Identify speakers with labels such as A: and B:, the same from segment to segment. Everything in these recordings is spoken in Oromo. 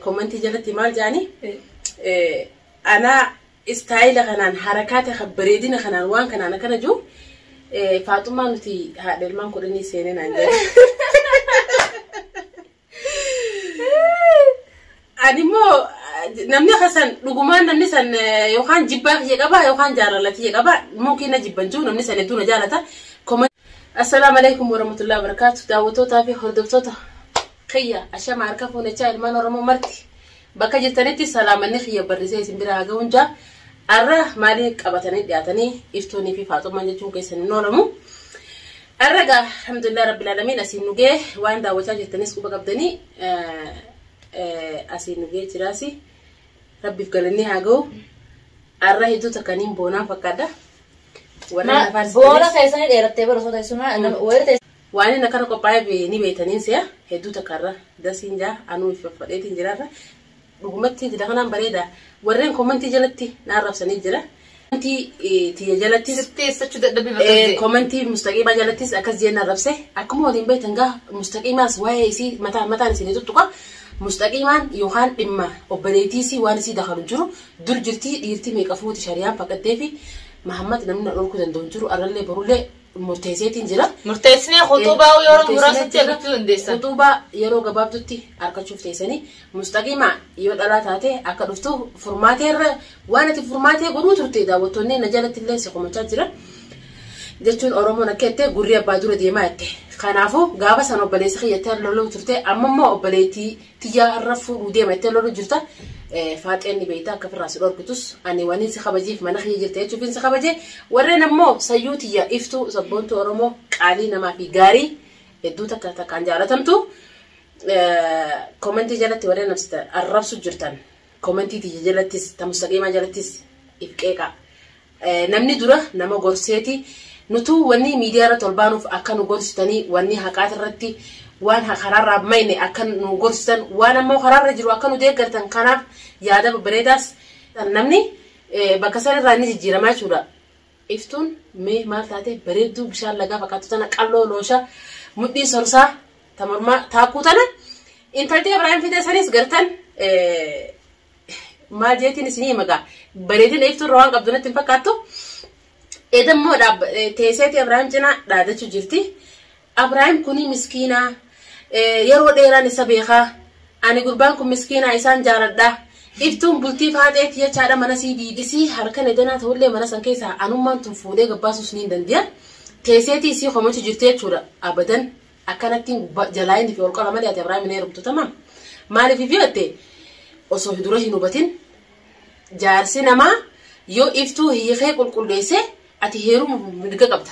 A: Komentii jalatti maal jaani anaa istaayila kanaan harakaata kan bareedina kanaan waan kanaan akkana jiru faaxumaa nuti haadha ilmaan kudhanii seenee naan jedhe. Ani immoo namni kasan dhugumaan namni san yookaan jibbaa kiyya qabaa yookaan jaalala kiyya qabaa mumkiin na jibban jiru namni san hedduu na jaalata. Assalaamu alaikum warahmatullahi wabarakatuh daawwattootaa fi hordoftoota kiyya ashama harka fuunachaa ilmaan oromoo marti bakka jirtanitti salaamanni kiyya barrisee isin bira haga'uun jaa arra maalii qabatanii dhiyaatanii iftuunii fi faaxummaan jechuun keessan hin oolamu arra gaa alhamdulillah rabbil alamin asiin nugee waan daawwachaa jirtanis quba qabdanii asiin nugee jiraasi rabbiif galannee haa ga'u arra hedduu takkaniin boonaan fakkaadha warra
B: lafaan boona keessanii dheerattee barasoo teessumaa wayita Waanin akkana qophaa'eef
A: ni beekta niin se'a hedduu takka irra dasiin jaa anuu itti faffadheetiin jira irra dhugumatti intila kanaan bareeda warreen komantii jalatti na arrabsanii jira komantii tiyya jalattis Sirtee eessachuu dadhabbii
B: bakka ta'e. komantii mustaqiimaa
A: jalattis akkas jeen arrabse akkuma waliin beektan gaa mustaqiimaas waa'ee isii mataa mataan isinii tuttuqa mustaqiimaan yookaan dhimma obboleettii isii waan isii dakalu hin jiru dur jirtii dhiirtii meeqa fuuti shariyaan fakkatteefi mahammad namni na dhorkuu danda'u hin jiru arrallee borullee murteesseetiin jira. Murteessinee Eh, khutuubaa
B: yeroo murteessinee muraasatti jira. argachuu dandeessan. Khutuubaa yeroo
A: gabaabdutti argachuuf teessanii mustaqimaa yoo dhalaa taate akka dhuftu furmaatee irra waan ati furmaatee godhuu turte daawwattoonni na jalatti illee si komachaa jiran. jechuun oromoon akka jettee gurri abbaa dura deemaa jette kanaafuu gaafa san obboleessa kiyyattee loluu turte amma immoo obboleettii tiyyaa irra fuudhuu deema jettee loluu jirta. Faaxeen ni beektaa akka firraa si dhorkitus ani waniin si kabajiif mana kiyya jirta jechuufiin si kabaje. Warreen ammoo sayyuu tiyya iftuu sabboontuu Oromoo qaalii namaa fi gaarii hedduu takka takkaan jaalatamtu. Koomentii jalatti warreen namsita arrabsu jirtan koomentii tiyya jalattis tamusaqiimaa jalattis if qeeqaa. Namni dura nama gorseeti nutuu wanni miidiyaa irratti ol baanuuf akka nu gorsitanii wanni haqaati irratti waan karaarraa mayne akka nu gorsitan waan ammoo karaarra jiru akka nu deeggartan kanaaf yaada babbareedaas namni bakka san irraa ni jijjiiramaa jechuudha. Iftuun mee maal taate bareedduu bishaan lagaa fakkaattu tana qalloo loosha mudhii sorsaa ta mormaa taakkuu tana intalti Ibrahim fidee sanis gartan maal jeetiin isinii magaa bareedina iftuu irra waan qabdu natti hin fakkaattu edammoo teesseeti Abrahaam cinaa dhaadachuu jirti Abrahaam kunii miskiinaa yeroo dheeraan isa beekaa ani gurbaan kun miskiinaa isaan jaaladhaa iftuun bultii faaxeetti jechaadha mana sii diidisii harkan edanaa ta'ullee mana san keessaa anummaan tun fuudhee gabbaasus ni dandiya teesseetii isii komachu jirti jechuudha abadan Akkanattiin gubbaa jalaayini fi olqara malee ati Abrahaam hin heerumtu tamam. Maaliif yoo jette osoo dura hin hubatin jaarsi namaa yoo iftuu hiikee qulqulleesse ati heeruma mirga qabda.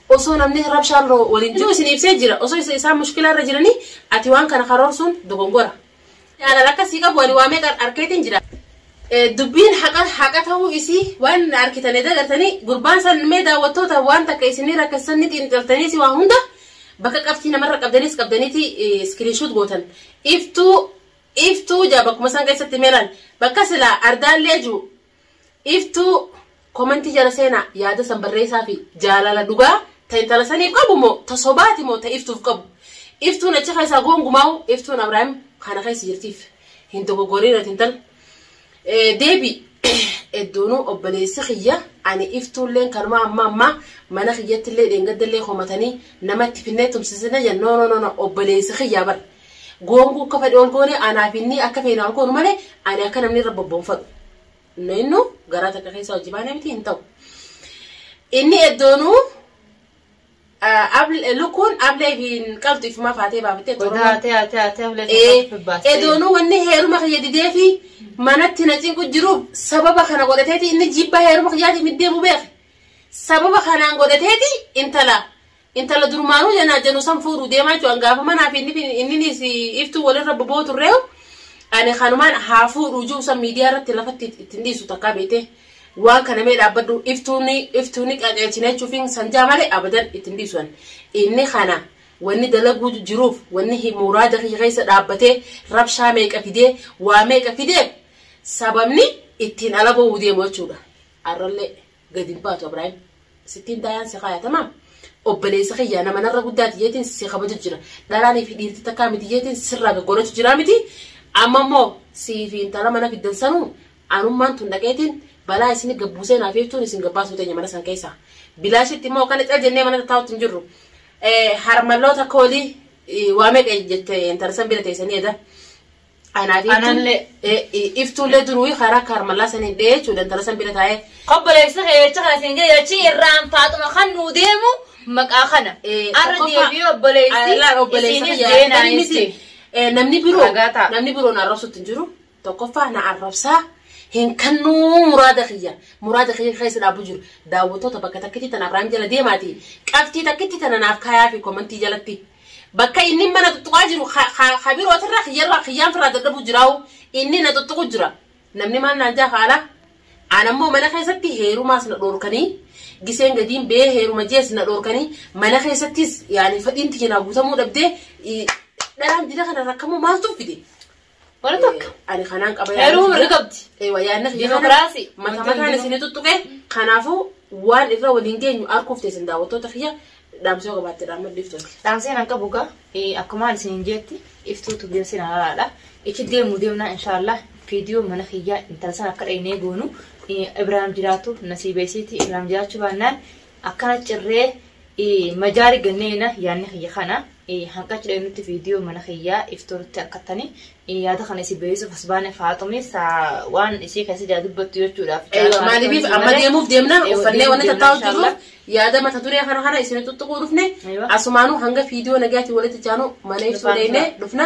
A: Osoo namni rabshaan waliin jiru isin ibsee jira. Osoo isaan mushkilaa irra jiranii ati waan kana karoorsuun dogongora. Jaalala akka sii qabu ani waa meeqa arkeetiin jira. Dubbiin haqa haqa ta'uu isii waan arkitanii dagartanii gurbaan san mee daawwattoota waan takka isinii rakkessan ni xiinxaltaniiti waa hunda bakka qabxii namarra qabdaniis qabdaniiti iskiriinshuut gootan iftuu iftuu jaa bakkuma san keessatti meelaan bakka silaa ardaallee juu Iftuu komentii jala seena yaada san barreessaa fi jaalala dhugaa ta intala saniif qabu mo ta sobaati mo ta iftuuf qabu iftuun achi keessaa goongumaawu iftuun abraahim kana keessa jirtiif hin dogogorin ati intal deebi edduunu obboleessi kiyya ani iftuulleen kanuma amma ammaa mana kiyyattillee dheengaddallee komatanii namatti finnee tumsisina jenna no no no obboleessi kiyyaa bara Goonguu akka fedhe ol goone anaa fi inni akka feenu haa goonu malee ani akka namni irra bobbonfadhu. Nu innu garaa takka keessa hojii baanee miti hin ta'u. Inni eddoonuu lukkuun ablee fi qaltu ifumaa faatee baafattee Qodaa tee haa tee haa tee
B: ablee Ee, tokko baattee. edoonuu
A: wanni heeruma kiyya didee fi manatti na cinqu jiruuf sababa kana godhateeti inni jibba heeruma kiyyaatiif iddeemu beeke. Sababa kanaan godhateeti intala Intala durmaanuu janaa janu san fuudhu deemaa jechuudha. Gaafa manaa fi inninis iftuu walirra boboo turreeyu ani kanumaan haa fuudhu jiru san miidiyaa irratti lafatti ittiin dhiisu takkaa beekte waan kana mee dhaabbadhu iftuuni iftuuni qajeelchina jechuufiin sanjaa malee abadan ittiin dhiisu ani. Inni kana wanni dalaguu jiruuf wanni muraada kiyya keessa dhaabbatee rabshaa meeqa fidee waa meeqa fidee sababni ittiin ala ba'uu deemu jechuudha. Arrallee. gad hin baatu Abiraayim. Sittiin taayaan si kaaya tamaam. Obboleessa kiyyaa nama narra guddaati jeetiin si kabaju jira. Dhalaanii fi dhiirti takkaa miti jeetiin sirraa gaggoonachu jira miti. Amma immoo sii fi intala mana fiddan sanuu anummaan tun dhaqeetiin balaa isin gabbuusee naaf jechuun isin gabbaasuu teenya mana san keessaa. Bilaashitti immoo kan cal jennee mana taa'utti hin jirru. Harmalloota koolii waa meeqa jette intala san bira teessanii jedha. Anaaf Anallee. iftuullee duruu karaa kaarmallaa sanii dhee jechuudha intala san bira taa'ee. Obboleessa kee jecha
B: kana siin jedhe achi irraan faaxuma kan nuu deemu maqaa kana. Eh, Arra tokkoffaa- deebi'ee obboleessi Laal obboleessa isiinis kiyya. deenaa Namni miti. itti. Eh, Namni biroo
A: Ragaa ta'a. namni biroo na arrabsutti hin jiru. Tokkoffaa na arrabsaa hin kannuu muraada kiyya. Muraada kiyya keessa dhaabuu jiru. Daawwattoota bakka takkitti tana Abiraam jala deemaati. Qabxii takkitti tana naaf kaayaa fi komantii jalatti. Bakka inni mana tuttuqaa jiru ka birootirra kiyyarra kiyyaan firraa dadhabuu jiraa'u inni na tuttuqu jira. Namni maal naan jaa kaala? Aan ammoo mana keessatti heerumaas na dhoorkanii giseen gadiin bee heeruma jees na dhoorkanii mana keessattis yaani fedhiin tiyya naa guutamuu dhabdee dharaan dida kana rakkamuu maaltu fide? Bara takka.
B: Ani kanaan qaba
A: Heeruma mirga qabdi.
B: Ewa yaadnas
A: Dimokiraasii. Mata
B: Wanti mataan hundinuu- isin
A: tuttuqe kanaafuu waan irra waliin geenyu arguuf teessin daawwattoota kiyya dhaamsoo qabaatte dhaammadhu iftooti. Dhaamseen akka
B: bugaa akkumaan isin jeetti iftuutu deemsi na lalaadha. Ichi deemu deemnaa inshaallah viidiyoo mana kiyyaa intala sana akka dhaynee goonu eh, Ibraahim jiraatu nasiibeesiiti Ibraahim jiraachuu baannaan Akkana cirree majaari ganneena yaanni kiyya kana hanqachu dheenutti viidiyoo mana kiyyaa iftuurutti harkattani yaada kana isin beeksisuuf as baane faaxumis waan ishee keessa jaa dubbattu jechuudhaaf. Maaliif amma
A: deemuuf deemna uffannee wanni tattaa'u jirru yaada mata duree kana kana isin tuttuquu dhufne asumaanuu hanga viidiyoo nagaatiin walitti jaanu mana ibsuu deemnee dhufna.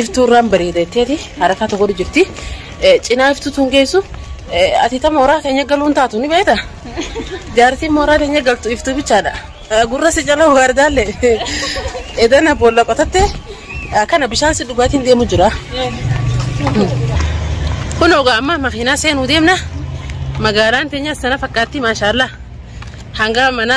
A: iftuurraan bareeda jetteeti harkaa tokko jirti. Cinaa iftuu tun geessu ati ta mooraa keenya galuun taatu ni beekta. Jaartiin mooraa keenya galtu iftuu bichaadha. Gurra si jala waardaallee edana boolla qotatte kana bishaan si dhugaatiin deemu jira. Kun ogaa amma makiinaa seenuu deemna. Magaalaan teenyas sana fakkaatti maashaallah. Hanga mana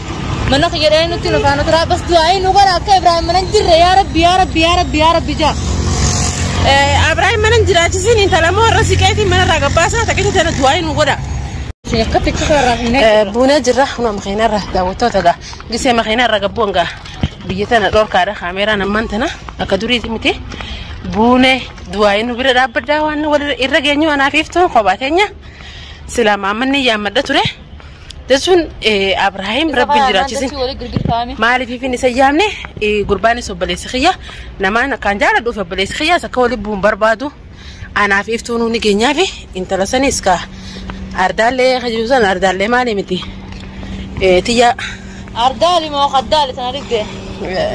B: Mana kiyya dhahee nutti nu faana turaa bas du'aayi nu godha akka Ibrahim mana hin jirre yaa rabbi yaa rabbi yaa rabbi yaa rabbi jaa.
A: Ibrahim mana hin jiraachisin intala moo irra siqeetiin mana irraa gabbaasaa takkisa tana du'aayi nu godha. Akka tiksisa irraa hin eegalu. Buunee jirra kunoo makiinaa irra daawwattoota egaa gisee makiinaa irra gabbuu egaa biyya tana dhorkaadha kaameeraan ammaan tana akka duriiti miti buunee du'aayi nu bira dhaabbadhaa waan wal irra geenyu anaaf iftuun kophaa teenya silaa maammanni yaammadha ture. Jechuun Abrahaam rabbi jiraachisin maaliif hin isa yaamne gurbaanis obboleessi kiyya namaan akkaan jaaladhuuf obboleessi kiyyaas akka waliin bu'uun barbaadu anaaf iftuu nuuni geenyaaf intala sanis ka ardaallee hajuu san ardaallee maali miti tiyya
B: Ardaali moo qaddaali sana dhibdee?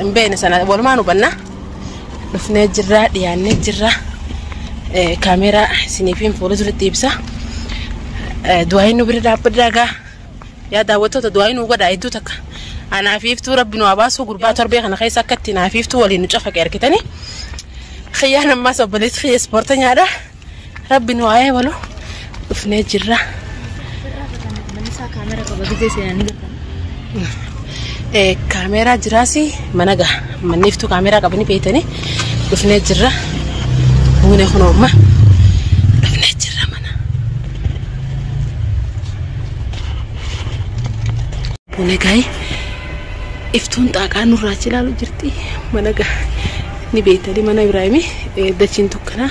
B: hin beekne sana
A: walumaan hubanna. dhufnee jirra dhiyaannee jirra kaameeraa isiniifiin fuula duratti ibsa du'aayi nu bira dhaabbadhaa gaa yaa daawwattoota du'aayi nu godhaa hedduu takka anaa fi iftuu rabbi nu haa baasuu gurbaa torbee kana keessa akkatti naa fi iftuu waliin nu cafaqe argitanii kiyyaan ammaas obboleessi kiyya ispoortanyaadha. Rabbi nu haa eebalu dhufnee jirra. Eh, Kaameeraa jiraas mana gaha. Manniiftuu kaameeraa qabanii beeytanii dhufnee jirra. Buune kun oomma. Dhufnee jirra mana. Buune gahi. Iftuun xaaqaa nurraa achi ilaalu jirti. Mana gaha. Ni beeytanii mana Ibraahimii eh, dachiin dukkanaa.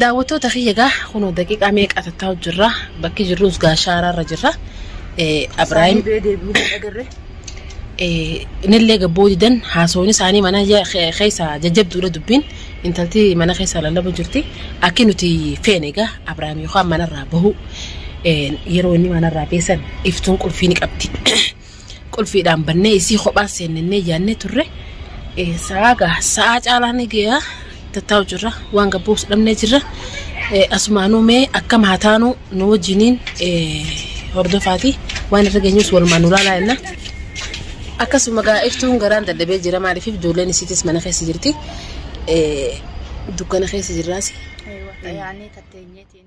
A: Daawwattoota kiyya egaa kunoo daqiiqaa meeqa tattaa'u jirra bakki jirrus gaa shaaraarra jirra. Abiraayim inillee gabboo didan haasawni isaanii mana keessa jajjabduudha dubbiin intalti mana keessa lallabu jirti akki nuti feene egaa Abiraayim yookaan manarraa bahu yeroo inni manarraa beesan iftuun qulfii ni qabdi. qulfiidhaan bannee isii kophaan seennennee yaannee turre sa'aa gaa sa'aa caalaa ni geeyaa tattaa'u jirra waan gabbuus dhabnee jirra asumaanuu mee akkam haa taanuu nu wajjiniin hordofaati waan irra geenyus walumaan nu laalaa jenna. Akkasuma gaa iftuun garaan dadhabee jira maaliif ijoolleen isiitis mana keessa jirti dukkana keessa
B: jirraas. Aywa, tayaanii
A: tatteenyeetiin.